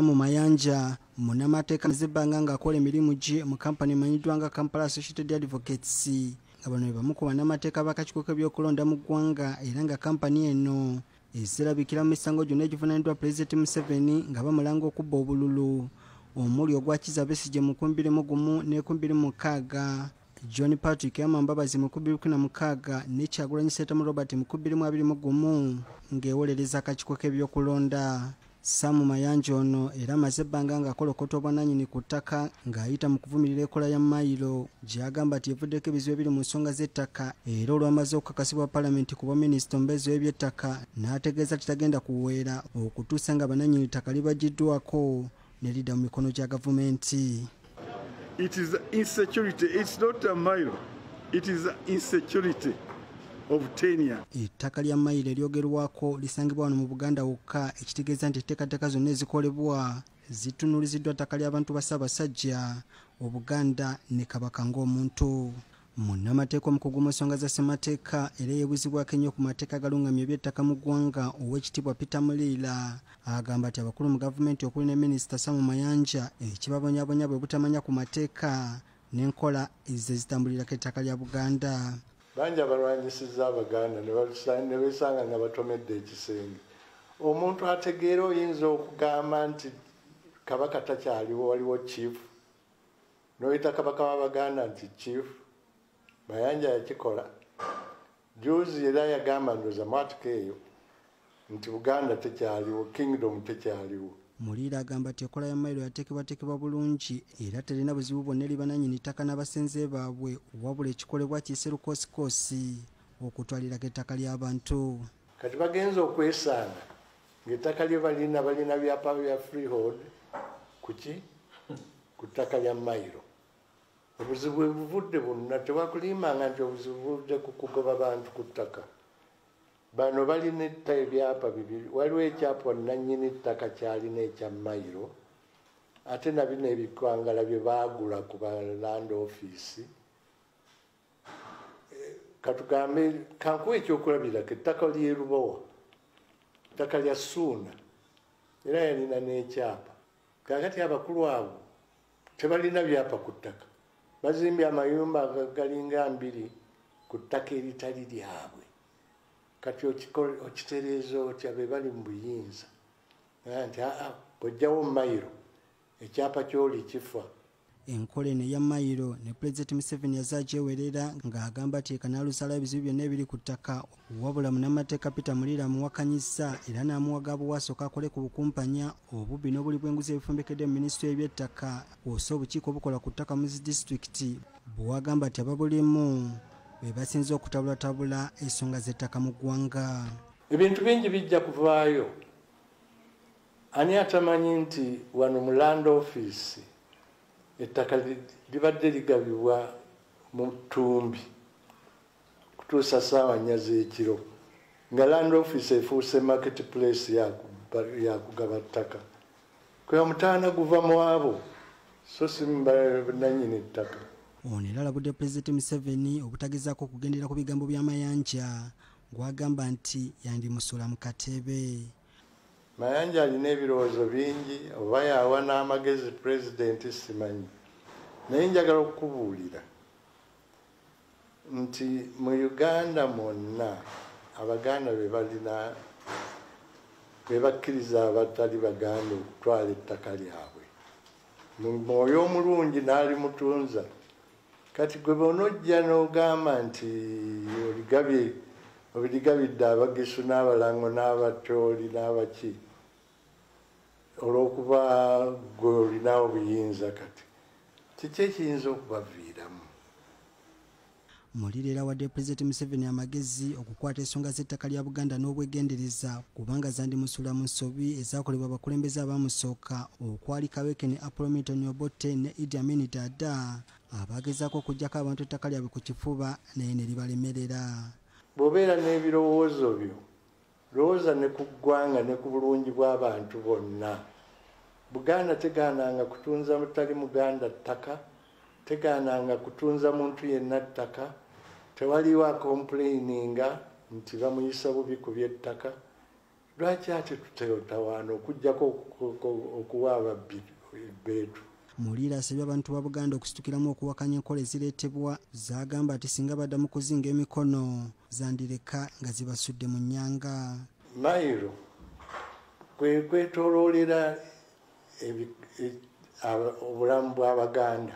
Mu Mayanja munamateeka zebbanga ng'akola emirimu gye mu kampani emanyiddwa nga Kampala Associated Advocates nga bano be bamu ku bannamateeka b'akakiiko k'ebyokulonda mu ggwanga era nga kampani eno ezirabikira mu misango gyonna egivunaaniddwa pulezidenti Museveni nga bamulanga okubba obululu omuli ogwa Kiza Besigye mu nkumi bbiri mu gumu n'ekumi bbiri mu mukaaga John Patrick Amambabazi mu kubiri kuna mukaaga ne Kyagulanyi Ssentamu Robert mu kubiri mu abiri mu gumu ng'ewolereza akakiiko k'ebyokulonda Sam Mayanja ono era amaze ebbanga ng'akolokota obwananyini ku ttaka ng'ayita mu kuvumirira ekola ya mayiro gy'agamba nti evuddeko ebizibu ebiri mu nsonga z'ettaka era olwamaze okukakasibwa palamenti ku bwaminisita omubeezi w'ebyettaka n'ategeeza nti tagenda kuweera okutuusa nga bananyini ttaka libagiddwako ne lidda mu mikono gya gavumenti It is insecurity. It's not a mile. It is insecurity. ettaka lya mayiro eryogerwako lisangibwa wano mu buganda wokka ekitegeeza nti etteekateeka zonna ezikolebwa zitunuliziddwa ttaka ly'abantu ba ssaabasajja obuganda ne kabaka ng'omuntu munnamateeka omukugu mu nsonga za ssemateeka era eyebuzibwako ennyo ku mateeka agalungamya ebyettaka mu ggwanga ow'ekitiibwa peter muliira agamba nti abakulu mu gavumenti okuli ne minisita samu mayanja ekibabonyabonya bwe butamanya ku mateeka n'enkola ezze zitambulirako ettaka lya buganda bangi abalwanyisiza abaganda ne besanga nga batomedde ekisenge omuntu ategeera oyinza okugamba nti kabaka takyaliwo waliwo chief noyita kabaka wa baganda nti chief mayanja yakikola juzi era yagamba ndoza mwatuka eyo nti buganda tekyaliwo kingdom tekyaliwo muliira agamba nti ekola ya mailo yateekebwateekebwa bulungi era terina buzibu bwonna eri bananyini ttaka n'abasenze baabwe wabula ekikolebwa kiyise lukosikoosi okutwalirako ettaka ly'abantu kati bagenza okwesanga ngaettaka lye balina balina byapa bya freehold kuki ku ttaka lya mayiro obuzibu ebuvudde bunna tewakulimbanga nti obuzibu buvudde ku kugoba bantu ku ttaka bano balina etta ebyapa bibiri waliwo ekyapa nanyini ttaka kyalina ekya mayiro ate nabino ebikwangala bye baagula ku baland offiisi katugambe kankuwa ekyokulabirako ettaka lyerubowa ettaka lya suuna era yalina n'ekyapa kakati abakulu abo tebalina byapa ku ttaka bazimbye amayumba agalinga mbiri ku ttaka eritali lyabwe kati okitereeza otya be bali mu buyinza nti aa bwojjawo mayiro ekyapa kyoli kifa enkola eno eya mayiro ne pulezidenti museveni yaze agyewerera ng'agamba nti ekanaalusalawo ebizibu byonna ebiri ku ttaka wabula munamateeka peter muliira amuwakanyizza era n'amuwaga bwewasooka akole ku bukumpanya obubbi n'obuli bw'enguzi ebifumbekedde mu minisitule y'ebyettaka kwosa obukiiko obukola ku ttaka mu zi disitulikiti bwewagamba nti ababulimu be basinza okutabulatabula ensonga z'ettaka mu ggwanga ebintu bingi bijja kuvaayo Ani atamanyi nti wano mu land office ettaka libadde ligabibwa mu ttumbi kutuusa saawa nnya z'ekiro nga land office efuuse market place yakugaba ttaka kwe omutaana guva mu abo so si nanyini ttaka ono era alabudde pulezidenti museveni obutagezaako okugendera ku bigambo bya mayanja gwagamba nti yandimusula mu kateebe mayanja alina ebirowoozo bingi oba yawa n'amagezi pulezidenti simanyi naye njagala okukubuulira nti mu uganda mwonna abaganda be balina be bakkiriza abatali baganda okutwala ettaka lyabwe mu mwoyo omulungi n'alimutunza kati gwe bonojja n'ogamba nti oligabye obirigabidde abagisu n'abalango n'abatooli n'abaki olw'okuba gwe olinawo buyinza kati kiki ekiyinza okubaviiramu mulirera wadde pulezidenti museveni amagezi okukwata ensonga z'ettaka lya buganda n'obwegendereza kubanga zandimusuula mu nsobi ezakolebwa abakulembeze abaamusooka okwali kaweke ne apollo milton obotte ne idi amini dada abagezako okujjako abantu ettaka lyabwe ku kifuba naye ne libalemerera bw'obeera n'ebirowoozo byo lowooza ne ku ggwanga ne ku bulungi bw'abantu bonna buganda tegaananga kutunza mutali muganda ttaka tegaananga kutunza muntu yenna ttaka tewaliwo akompulayininga nti bamuyisa bubi ku by'ettaka lwaki ate tutetawaana okujjako okuwa ababbi ebbeetu mulira asabye abantu ba buganda okusitukiramu okuwakanya enkola ezireetebwa zagamba nti singa baddamu kuzinga emikono zandireka nga zibasudde mu nyanga mayiro kwekwetoloolera e, obulamu bw'abaganda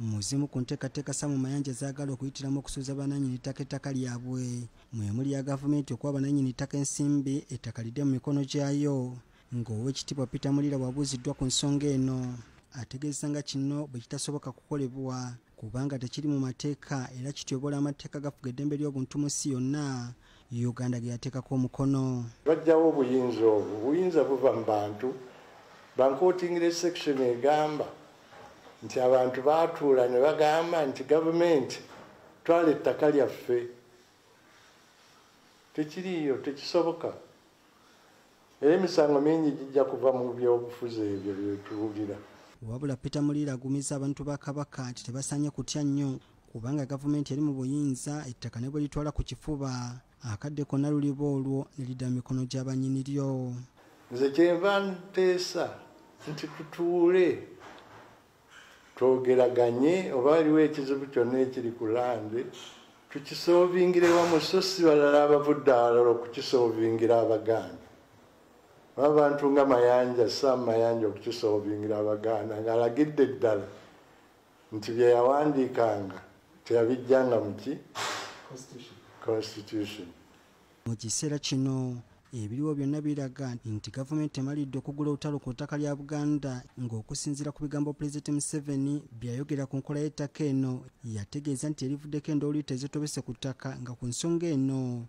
mu zimu ku nteekateeka samu mayanja zaagala okuyitiramu okusuuza bananyini ttaka ettaka lyabwe mwemuli ya gavumenti okuwa bananyini ttaka ensimbi ettaka lidde mu mikono gyayo ng'owekitiibwa peter mulira wabuuziddwa ku nsonga eno ategeeza nga kino bwe kitasoboka kukolebwa kubanga tekiri mu mateeka era kityobola amateeka gafuga eddembe ly'obuntu mu nsi yonna uganda ge yateekako omukono bajjawo obuyinza obwo obuyinza buva mu bantu bankootingire section egamba nti abantu baatuula ne bagamba nti gavumenti twala ettaka lyaffe tekiriiyo tekisoboka era emisango mingi gijja kuva mu byobufuzi ebyo byetuwulira wabula peter muliira agumiza abantu ba kabaka nti tebasaanye kutya nnyo kubanga gavumenti eri mu buyinza ettaka ne bwe litwala ku kifuba akadde konna luliba olwo ne lidda mu mikono gya bannyini lyo nze kyenva nteesa nti tutuule twogeraganye oba waliwo ekizibu kyonna ekiri ku lande tukisovingira ewamu so si balala abavudde awalala okukisovingira abaganda oba abantu nga mayanja sam mayanja okukisovingira abaganda ng'alagidde ddala nti bye yawandiikanga teyabijjanga muki constitution mu kiseera kino ebiriwo byonna biraga nti gavumenti emalidde okugula olutalo ku ttaka lya buganda ng'okusinziira ku bigambo pulezidenti museveni byeyayogera ku nkola y'ettaka eno yategeeza nti erivuddeko endooliito ezitobese ku ttaka nga ku nsonga eno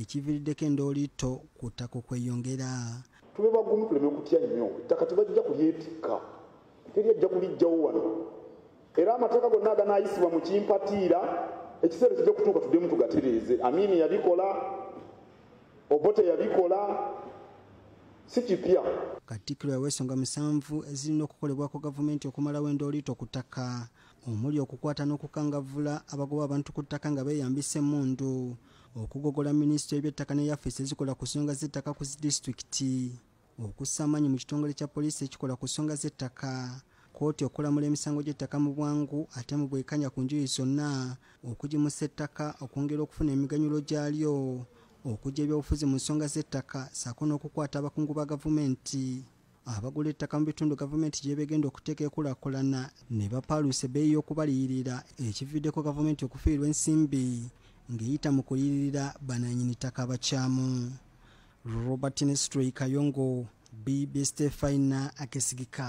ekiviriddeko endooliitto ku ttaka okweyongera tube bagumu tuleme kutya nnyo ettaka tebajja kulyetikka teri ajja kulijjawo wano era amateeka gonna aganaayisibwa mu kimpatiira ekiseera kijja kutuuka tuddemu tugatereeze amiini yabikola obote yabikola si kipya katikkiro yawa ensonga musanvu ezirina okukolebwako gavumenti okumalawo endooliito ku ttaka omuli okukwata n'okukangavvula abagoba abantu ku ttaka nga beeyambisa emmundu okugogola minisitule y'ebyettaka ne yafeesi ezikola ku nsonga z'ettaka ku zidisitulikiti okussa amaanyi mu kitongole kya poliisi ekikola ku nsonga z'ettaka kkooti okulamula emisango gy'ettaka mu bwangu ate mu bwekanya ku njuyi zonna okugimusa ettaka okwongera okufuna emiganyulo gyalyo okujja ebyobufuzi mu nsonga z'ettaka saako n'okukwata abakungu ba gavumenti abagula ettaka mu bitundu gavumenti gyebegenda okuteeka ekulakulana ne bapaaluusa ebbeeyi y'okubaliyirira ekividdeko gavumenti okufiirwa ensimbi ng'eyita mu kuyirira bananyini ttaka abakyamu robert nestroy kayongo bbstefina akesigika